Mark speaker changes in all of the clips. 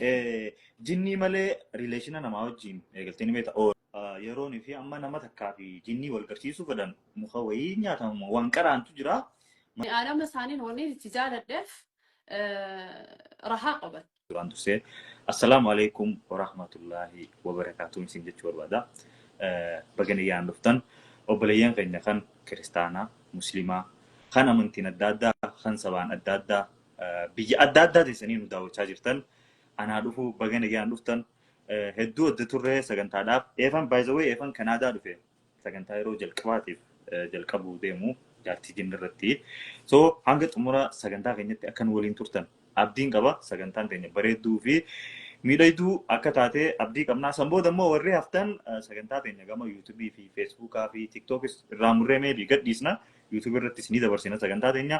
Speaker 1: Eh, Jinnii malee rileeshina namaa wajjin eegaltee ni beekta. Oo, ah, Yeroon fi amma nama takkaa fi jinnii wal garsiisuu fedhan muka wayii nyaatamu waan qaraantu jira. Aadama isaaniin
Speaker 2: wanni itti jaaladheef rahaa qaban. Duraan dursee
Speaker 1: assalaamu alaikum warahmatullaahi wabarakaatuun isin jechuu barbaada. Eh, Baga nagaan dhuftan obboleeyyan keenya kan kiristaanaa, musliimaa, kan amantiin adda addaa, kan sabaan adda addaa, biyya adda addaa teessanii nu daawwachaa jirtan anaa dhufu baga nagaan dhuftan Eh, hedduu adda turree sagantaadhaaf eefan baay'isawee eefan kanaadaa dhufe sagantaa yeroo jalqabaatiif eh, jalqabuu deemu jaartii jinni irratti so hanga xumura sagantaa keenyatti akka nu waliin turtan abdiin qaba sagantaan teenya bareedduu fi miidhagduu akka taate abdii qabnaa san booda immoo warri haftan eh, sagantaa teenya gama yuutubii fi feesbuukaa fi tiktookis irraa murree meebii gadhiisna yuutubii irrattis ni dabarsina sagantaa teenya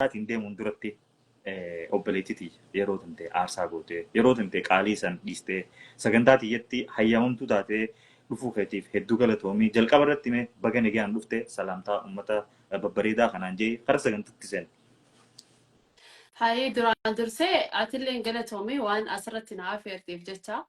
Speaker 1: isaatiin deemuun duratti eh, obboleettii tiyya yeroo tantee aarsaa gootee yeroo tantee qaalii san dhiistee sagantaa tiyyatti hayyamamtuu taatee dhufuu keetiif hedduu galatoomii jalqaba irratti mee baga nagaan dhufte salaamtaa uummata eh, babbareedaa kanaan jee kara sagantatti seen.
Speaker 2: Hayii duraan dursee atilleen galatoomii waan asirratti na afeerteef jecha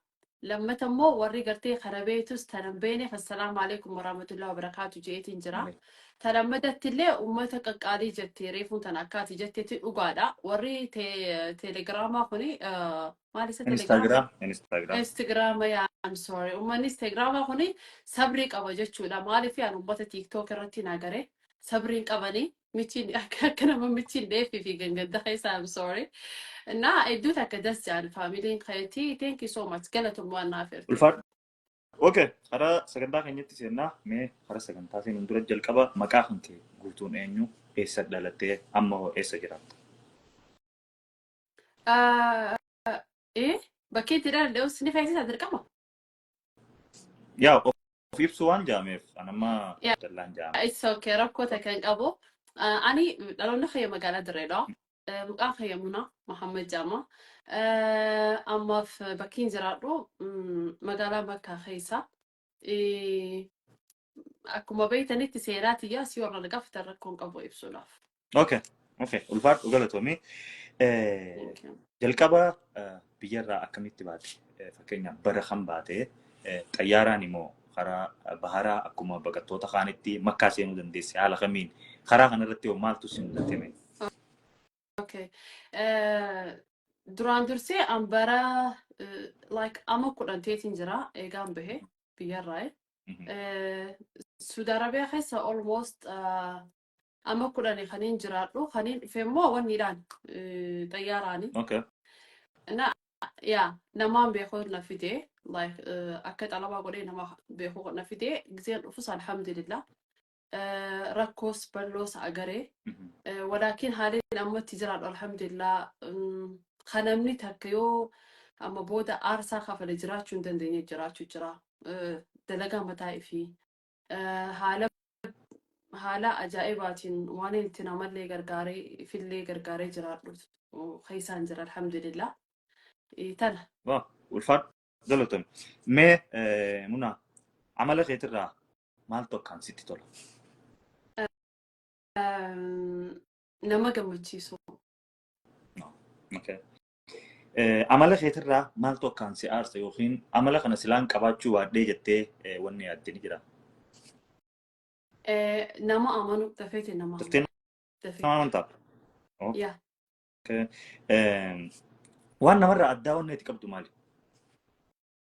Speaker 2: lammata immoo warri gartee kana beektus tana hin beekneef assalaamu alaikum warahmatullahi wabarakaatu jeetiin jira Wale- ta lammatatti illee ummata qaqqaalii jette reefuun tana akkaati jettetti dhugaadha warri te- telegiraamaa kuni eh, maal isa telegiraama Instagram, Instagram. Instagram yaa I'm sorry ummanni Instagram kuni sabrii qaba jechuudha maaliif yaan ummata TikTok irratti hin agarre sabriin qabanii michiin akka akka nama michiin dheeffii fi gangadda keessa I'm sorry. Na hedduu takka das jaan faamiliin keetii thank you so much galatoom waan naaf ertu. Ulfaadhu.
Speaker 1: Okay, hara sagantaa keenyatti seennaa mee hara sagantaa seenuun dura jalqaba maqaa kan kee guutuun eenyu eessa dhalattee amma hoo eessa jiraatta?
Speaker 2: Ah, Eh bakkee itti dhaladhe osoo ni feesisa dirqama.
Speaker 1: Yaa of of ibsu waan jaameef an amma Yeah, dallaan jaame.
Speaker 2: it's okay.
Speaker 1: Rakkoo takka
Speaker 2: hin qabu. Uh, ani dhaloonni kiyya magaalaa Dirreedha. Uh, maqaan kiyya Muna Mahammed Jaama. Uh, ammaaf bakkiin jiraadhu mm, magaalaa Makkaa keessa. Eh, Akkuma beektanitti seenaa tiyyaas yoo irraa na gaafatan rakkoo hin qabu ibsuudhaaf. Okay.
Speaker 1: Okay. Ulfaadhu galatoomii. Eh, Thank you. Jalqaba eh, biyyarraa akkamitti baate? Eh, Fakkeenyaaf bara kan baate eh, xayyaaraan immoo karaa eh, baharaa akkuma baqattoota kaanitti makkaa seenuu dandeesse haala kamiin karaa kanarratti hoo maaltu si mudate mee?
Speaker 2: Okay. Eh, Duraan dursee an bara eh, like ama kudhan teetiin jira eegaan bahe biyyarraa. eh. Mhm. Eh, Saudi Arabia keessa almost ah, amma kudhani kaniin jiraadhu kaniin dhufe immoo wanniidhaan eh, xayyaaraani Okay.
Speaker 1: na yaa
Speaker 2: namaan beekuu na fide like eh, akka xalabaa godhee nama beekuu na fide giseen dhufus alhamdulillah rakkoos balloos agare walaakiin haaliin amma itti jiraadhu alhamdulillah kan namni takka yoo amma booda aarsaa kafale jiraachuu hin dandeenye jiraachuu jira dalagaa mataa ifii haala haala ajaa'ibaatiin waan itti namallee gargaaree ifillee gargaaree jiraadhu keessaan jira alhamdulillah tana Waa, ulfaadhu.
Speaker 1: Galatoomi. Mee eh, munaa amala keetirraa maaltu akkaan sitti tola?
Speaker 2: Nama gammachiisu.
Speaker 1: Okay. Eh, Amala keetirraa maaltu akkaan si aarsa yookiin amala kana silaan qabaachuu baadhee jettee eh, wanni yaadde ni jira. Eh, Nama
Speaker 2: amanu dafeeti nama Daftee
Speaker 1: amanu. nama Dafeeti. amantaa? Oh, Yaa.
Speaker 2: okay.
Speaker 1: Eh, Waan namarraa addaa wanni ati qabdu maali?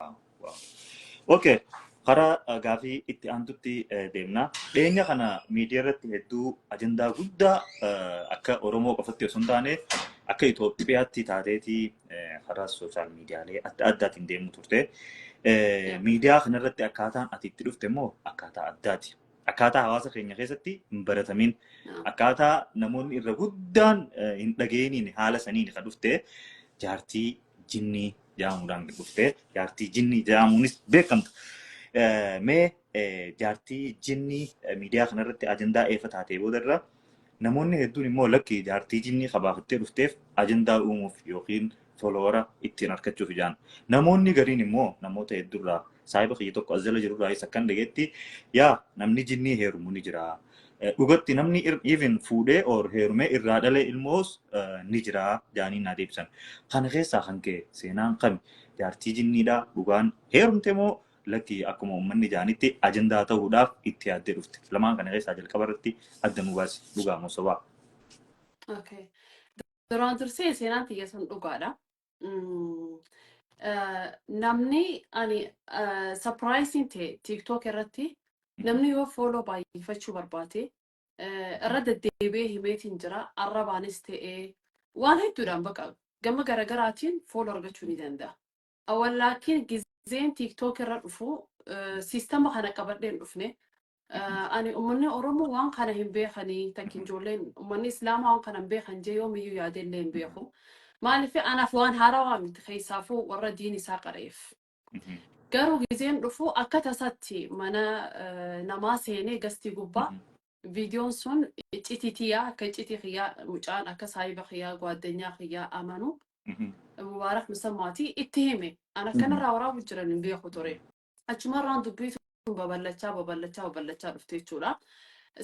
Speaker 2: Waaw, waaw. Okay.
Speaker 1: Karaa eh, gaafii itti aantutti eh, deemna. Dhiyeenya kana miidiyaa irratti hedduu ajandaa guddaa eh, akka Oromoo qofatti osoo hin taane akka Itoophiyaatti taateeti eh, karaa sooshaal miidiyaalee adda addaatiin deemu turte. Eh, Miidiyaa kanarratti akkaataan ati itti dhufte immoo akkaataa addaati. Akkaataa hawaasa keenya keessatti hin baratamin. Akkaataa namoonni irra guddaan eh, hin dhageeniin haala saniin kan dhufte jaartii jinnii ja'amuudhaan dhuftee jaartii jinnii ja'amuunis beekamtu. Eh, Mee eh, jaartii jinnii eh, miidiyaa kanarratti ajandaa eefa taatee boodarra namoonni hedduun immoo lakki jaartii jinnii kabaafattee dhufteef ajandaa uumuuf yookiin folowara ittiin argachuuf ijaan. Namoonni gariin immoo namoota hedduurraa saahiba kiyya tokko as jala jirurraayis akkan dhageetti yaa namni jinnii heerumu ni jira. Eh, Dhugatti namni ir- even fuudhee or heerumee irraa dhalee ilmoos eh, ni jira jaanii naa deebisan. Kana keessaa kan ka'e seenaan kami jaartii jinniidha dhugaan heerumte moo lakki akkuma uummanni jaanitti ajandaa ta'uudhaaf itti yaaddee dhufte. Lamaan kana keessaa jalqaba irratti adda nu baasi dhugaa moo sobaa.
Speaker 2: Okay. Duraan dursee seenaan tiyya sun dhugaadha. Mm, eh, namni ani sapiraayiziin ta'e tiiktook irratti namni yoo fooloo baay'ifachuu barbaade eh, irra deddeebi'ee himeetiin jira arrabaanis ta'e waan hedduudhaan baqa gama garagaraatiin fooloo argachuu ni danda'a. Awwallaakiin gizeen tiiktook irra dhufu eh, siistama kana qabadhee hin dhufne Ani ummanni Oromoo waan kana hin beekani takki ijoolleen ummanni Islaamaa waan kana hin beekan jee yoomiyyuu yaadee illee hin beeku. Maaliif anaaf waan haarawaa miti keessaafuu warra diin isaa qara'eef. Garuu gizeen dhufu akka tasatti mana eh, namaa seenee gastii gubbaa viidiyoon sun iccitii tiyyaa akka iccitii kiyyaa mucaan akka saahiba kiyyaa gwaaddanyaa kiyyaa amanu mubaarak musammaati itti hime. An akkanarraa waraabuu jiran hin beeku ture. achumarraan dubbii tun babal'achaa babal'achaa babal'achaa dhufte jechuudha.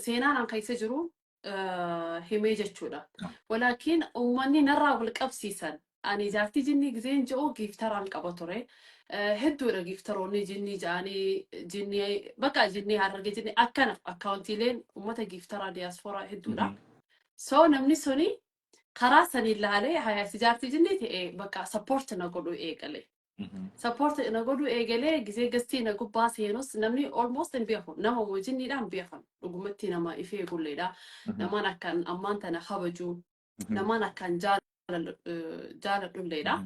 Speaker 2: Seenaan an keessa jiru eh, himee jechuudha. Walaakiin uummanni narraa wal qabsiisan ani jaartii jinnii gizeen je'u giiftaraan qaba ture. Eh, Hedduudha giiftaroonni jinnii ja'anii jinnii bakka jinnii hararge jinnii akkana akkaawuntiileen uummata giiftaraa diyaaspooraa hedduudha. So namni suni karaa sanii ilaalee hayaasi jaartii jinnii ta'e bakka sappoorti na godhuu eegale. support na godhuu eegalee gisee gastii na gubbaa seenus namni almost hin beeku nama wajinniidha hin beekan dhugumatti nama ifee gulleedha namaan akkaan ammaan tana kabajuu namaan akkaan jaalal- eh, jaaladhulleedha.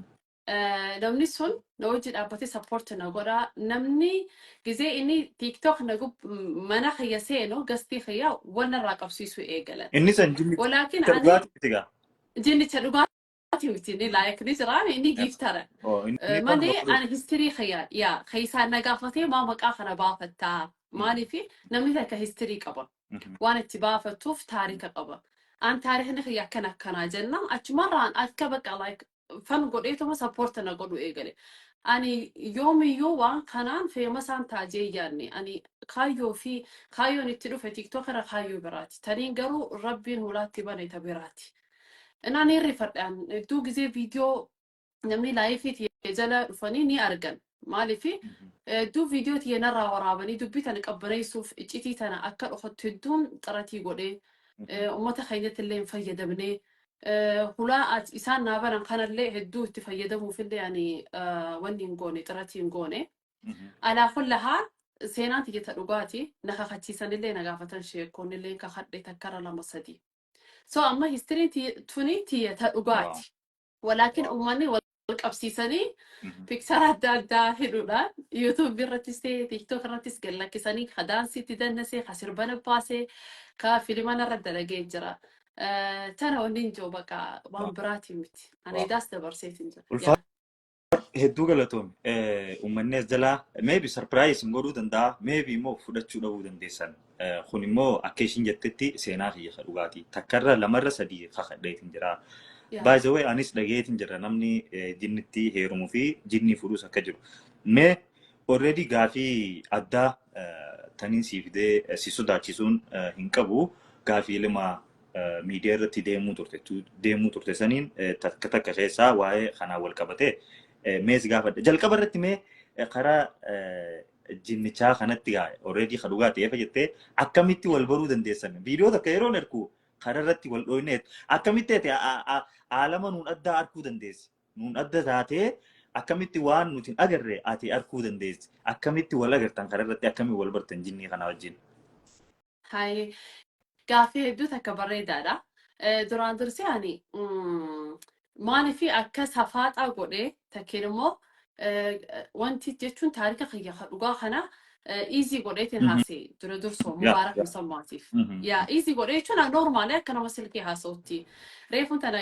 Speaker 2: Eh, Namni sun na wajji dhaabbatee support na godha. Namni gisee inni TikTok na gub mana kiyya seenu gastii kiyya wal narraa qabsiisuu eegalan. Inni san jinni Walaakin
Speaker 1: ani dhugaatii miti gaa.
Speaker 2: jinnicha dhugaa Ati miti inni like ni jira inni giiftara. Oh, Eh, inni baruma Malee fudhu. ani histirii kiyya yaa keessaan na gaafatee maa maqaa kana baafattaa maaliif namni takka histirii qaba waan itti baafattuuf taarika qaba. An taarikni kiyya akkana akkanaa jenna achumarraan akka bakka like fan godheetuma sappoorta na godhu eegale. Ani yoomiyyuu waan kanaan feemasaan taajee yaadne ani kaayyoo fi kaayyoon itti dhufe tiktook irra kaayyoo biraati. Taniin garuu rabbiin hulaatti bane ta biraati. Inaa ni rifadhaan hedduu gizee viidiyoo namni laayifii tiyya jala dhufanii ni argan. Maaliif hedduu viidiyoo tiyya narraa waraabanii dubbii tana qabbaneessuuf iccitii tana akka dhokattu hedduun xaratii godhee eh, ummata keenyatti illee hin fayyadamnee eh, hulaa as- isaan naa banan kanallee hedduu itti fayyadamuuf illee ani eh, wanni hin goone xaratii hin goone. Alaa kulla haal seenaan tiyya ta dhugaati na kakachiisan illee na gaafatan sheekkoon illee kakadhe takkara lama sadii. so amma history tuni tiyya ta dhugaati walaakin uummanni wal qabsiisanii piksara adda addaa hidhuudhaan yuutuubi irrattis ta'e tiiktook irrattis gad lakkisanii ka daansii itti dannasee ka sirbana baasee ka filimana irra dalagee jira. Tana wanni hin jiru bakka waan biraatiin miti. Ani daas dabarseetiin jira. Ulfaa- Hedduu
Speaker 1: galatoomi. Uummanni as jalaa maybe surprise hin godhuu danda'a. Maybe immoo fudhachuu dhabuu dandeessan. Kun immoo akka ishiin jettetti seenaa kiyya ka dhugaati. Takkarra lamarra sadii kakadheetiin jira. By the way anis dhageetiin jira namni jinnitti heerumuu fi jinnii fuudhus akka jiru. Mee already gaafii addaa taniin sii fidee si sodaachisuun hin qabu. Gaafii lama miidiyaa irratti deemuu turte deemuu turte saniin takka takka keessaa waa'ee kanaan wal qabatee mee si gaafadha. Jalqaba irratti mee karaa jinnichaa kanatti gaa already ka dhugaa ta'eef jettee akkamitti wal baruu dandeessan viidiyoo takka yeroon ergu karaa irratti wal dhooyneet akkamitti ati aalama nuun addaa arguu dandeessi nuun adda taatee akkamitti waan nuti hin agarre ati arguu dandeessi akkamitti wal agartan karaa irratti akkamitti wal bartan jinnii kanaa wajjin. Hayi
Speaker 2: gaaffii hedduu takka bareedaadha. Eh, Duraan dursee ani mm, maaliif akka safaaxaa godhee takkeen immoo eh, wanti jechuun taarika kiyya ka dhugaa kana iizii godheetiin Mhm. haasee dura dursoo Yeah, mubaarak yeah. musammaatiif. Mhm. Yaa iizii godhee jechuun noormaalee akka nama silkii haasa'utti reefuun tana